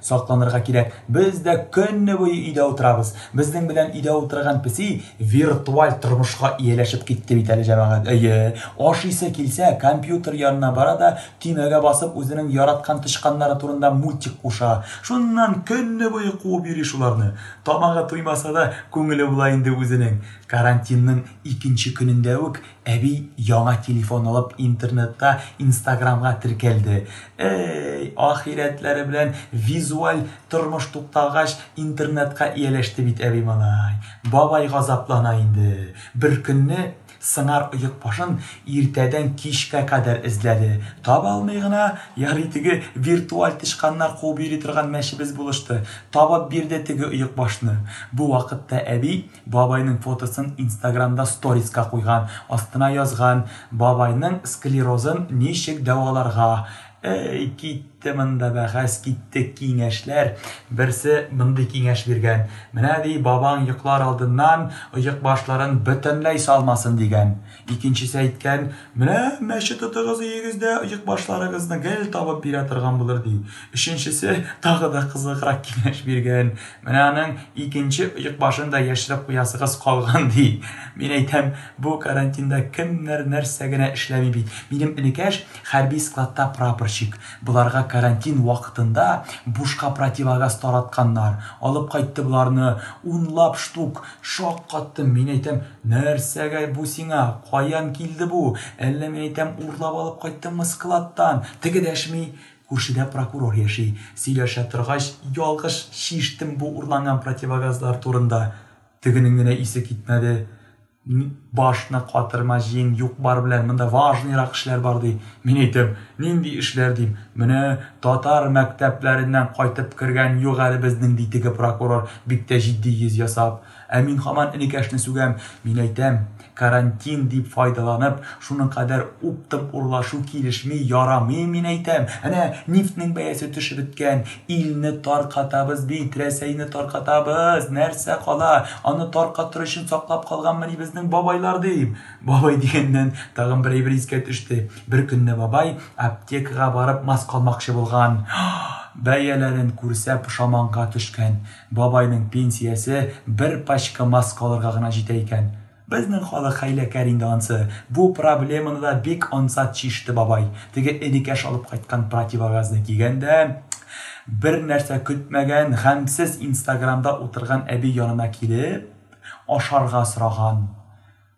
Сакланырга кирәк. Без дә көнне буе өйдә утырабыз. Безнең белән өйдә утырган песи виртуаль тормышка ияләшеп китте бит әле, җәмәгать. Әйе, ашыйсы килсә, компьютер янына бара да, төймәгә басып, үзенең яраткан тычканнары турында мультик куша. Шуннан көнне буе куып йөри шуларны. Тамагы туймаса да, күңеле була инде үзенең. Карантинның икенче көнендә үк Әби яңа телефон алып интернетта инстаграмга теркәлде. Әй, ахирәтләре белән визуаль тормыш тукталгач, интернетка ияләште бит әби малай. Бабай газаплана инде. Беркөнне сыңар оек башын иртәдән кичкә кадәр эзләде. Таба алмый гына, ярый теге виртуаль тычканнар куып йөри торган мәчебез булышты. Табып бирде теге оек башны. Бу вакытта әби Бабайның фотосын инстаграмда сториска куйган, астына язган, Бабайның склерозын ничек дәваларга? Әй, китте монда бәхәс, китте киңәшләр. Берсе мондый киңәш биргән, Менә, ди, бабаң йоклар алдыннан оекбашларын бөтенләй салмасын, дигән. Икенчесе әйткән, Менә мәче тотыгыз өегез дә оекбашларыгызны гел табып бирә торган булыр, ди. Өченчесе тагы да кызыграк киңәш биргән, Менә аның икенче оекбашын да яшереп куясыгыз калган, ди. Мин әйтәм, бу карантинда кемнәр нәрсә генә эшләми бит. Минем энекәш хәрби складта прапорщик. Боларга карантин вакытында бушка противогаз таратканнар. Алып кайтты боларны унлап штук, Шаккаттым, мин әйтәм, нәрсәгә бу сиңа, каян килде бу, әллә мин әйтәм, урлап алып кайттыңмы складтан? Теге дәшми, күршедә прокурор яши, сөйләшә торгач, ялгыш чиштем бу урланган противогазлар турында. Тегенең генә исе китмәде, башны катырма, җиен, юк-бар белән, монда важныйрак эшләр бар, ди. Мин әйтәм, нинди эшләр, дим, менә татар мәктәпләреннән кайтып кергән юк әле безнең, ди теге прокурор. Бик тә җитди йөз ясап. Ә мин һаман энекәшне сүгәм. Мин әйтәм, карантин дип файдаланып, шуның кадәр уптым урлашу килешми, ярамый, мин әйтәм. Әнә, нефтьнең бәясе төшеп беткән. Илне таркатабыз бит, Рәсәйне таркатабыз. Нәрсә кала? Аны таркатыр өчен саклап калганмыни безнең бабайлар, дим. Бабай дигәннән, тагын бер әйбер искә төште. Беркөнне бабай аптекага барып маска алмакчы булган. Бәяләрен күрсә, пошаманга төшкән. Бабайның пенсиясе бер пачка маска алырга гына җитә икән. Безнең халык хәйләкәр инде ансы. Бу проблеманы да бик ансат чиште бабай. Теге энекәш алып кайткан противогазны кигән дә, бернәрсә көтмәгән, гамьсез инстаграмда утырган әби янына килеп, ашарга сораган.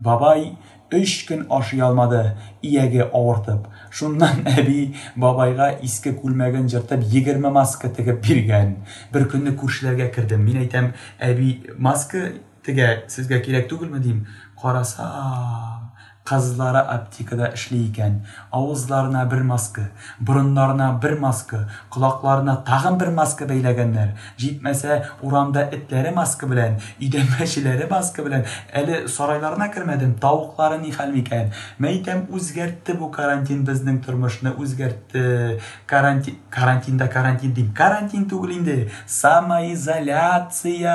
Бабай өч көн ашый алмады, ияге авыртып. Шуннан әби бабайга иске күлмәген җыртып, егерме маска тегеп биргән. Беркөнне күршеләргә кердем. Мин әйтәм, әби маска тегә, сезгә кирәк түгелме, дим. Карасам, кызлары аптекада эшли икән. Авызларына бер маска, борыннарына бер маска, колакларына тагын бер маска бәйләгәннәр. Җитмәсә, урамда этләре маска белән, өйдә мәчеләре маска белән. Әле сарайларына кермәдем, тавыклары ни хәл микән? Мәйтәм, үзгәртте бу карантин безнең тормышны, үзгәртте. Каранти... карантин да карантин дим. Карантин түгел инде, самоизоляция!